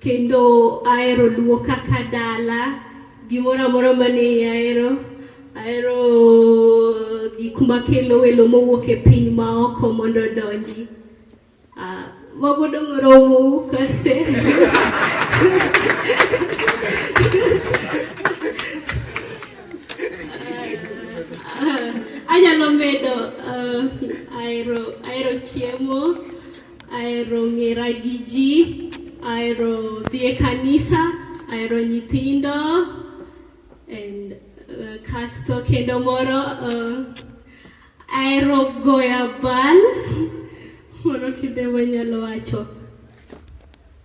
Kendo ahero luo kaka dala, gimoro amoro mane ahero, ahero gik makelo welo mowuok e piny maoko mondo odonji. Uh, mago dong' oromo kase. anyalo medo uh, ahero chiemo Ahero ng'era gi ji, ahero dhi e kanisa, ahero nyithindo and uh, kasto kendo moro uh, ahero goyo abal moro kinde manyalo wacho